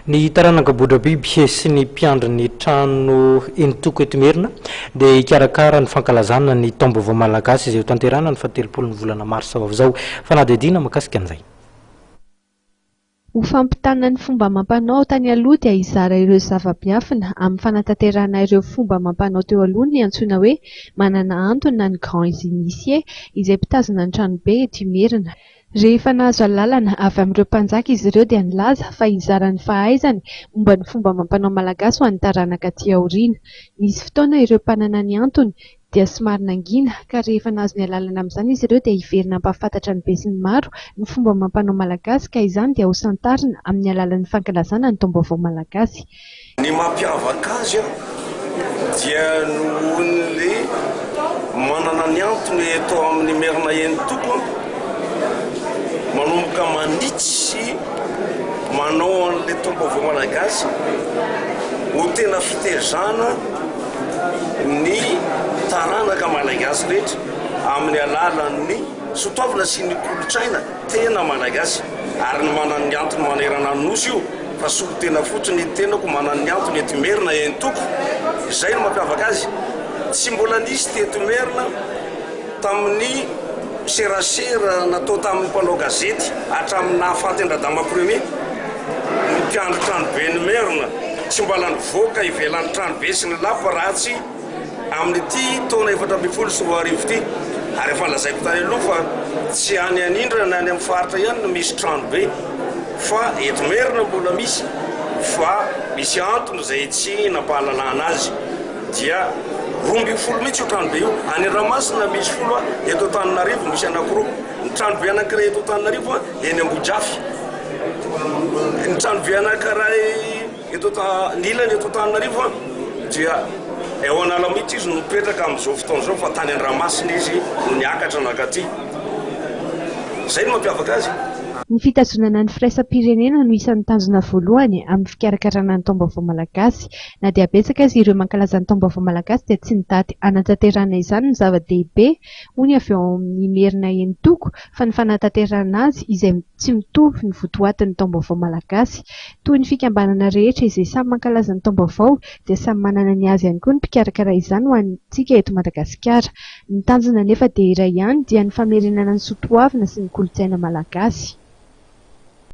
Ny taranaka Bodrabiby sy ny mpiandry ny trano Entoko eto Imerina dia hikarakara ny fankalazana ny taom-baovao malagasy izay ho tanterahina ny fahatelopolo ny volana marsa ho avy izao. Fanadihadiana mahakasika an'izay. Ho fampitana ny fomba amam-panao tany aloha dia hizara ireo zava-miafina amin'ny fanatanterahana ireo fomba amam-panao teo aloha ny antsoina hoe Manana Antony na ny Grands Initiés izay mpitazona ny tranobe eto Imerina. Rehefa nahazo alalana avy amin'ireo mpanjaka izy ireo dia nilaza fa hizara ny fahaizany momba ny fomba amam-panao malagasy ho an'ny taranaka aty aoriana. Nisy fotoana ireo mpanana ny antony dia somary nangina ka rehefa nahazo ny alalana amin'izany izy ireo dia hiverina hampahafantatra ny besinimaro ny fomba amam-panao malagasy ka izany dia hosantarina amin'ny alalan'ny fankalazana ny taom-baovao malagasy. Ny mampiavaka azy dia nohon'le manana ny antony eto amin'ny Merina eny toko manomboka manitsy sy manao an'le taom-baovao malagasy ho tena fitezana ny taranaka malagasy rehetra amin'ny alalan'ny soatoavina sy ny kolontsaina. Tena Malagasy ary ny manan'ny antony manerana ny Nosy io fa solon-tena fotsiny ny tenako manan'ny antony eto Imerina eny Tompoko, izay no mampiavaka azy, tsy mbola nisy teto Imerina tamin'ny serasera natao tamin'ny mpanao gazety hatramin'ny nahafaty an-dRadama Premier ny mpiandry tranoben'Imerina, tsy mbala nivoaka ivelan'ny tranobe sy ny lapa raha tsy. amin'ity taona efatra ambin'ny folo sy roa arivo ity ary efa lazaiko tany aloha fa tsy any anindra na any amin'ny faritra ihany no misy trano be fa eto merina mbola misy fa misy antony izay tsy nampahalalana azy dia roa ambin'ny folo mihitsy io trano be io any ramasina misy folo eto antananarivo misy anakiroa ny trano be anakiray eto antananarivo eny ambojafy ny trano be anankiray Eto ny ilany eto Antananarivo dia eo Analamity izy no mipetraka amin'izao fotoana izao fa tany Andramasina izy no niakatra nankaty. Izay no mampiavaka azy. Ny fitazonana ny firaisam-pirenena no isan'ny tanjona voalohany amin'ny fikarakarana ny Taom-baovao malagasy. Na dia betsaka aza ireo mankalaza ny Taom-baovao malagasy dia tsy ny daty hanatanterahana izany no zava-dehibe hoy ny avy ao amin'ny Imerina enin-toko fa ny fanatanterahana azy izay tsy mitovy ny votoatin'ny Taom-baovao malagasy Toy ny fikambanana rehetra izay samy mankalaza ny taom-baovao dia samy manana ny azy ihany koa ny mpikarakara izany ho antsika eto Madagasikara. Ny tanjona anefa dia iray ihany dia ny famerenana ny soatoavina sy ny kolontsaina malagasy.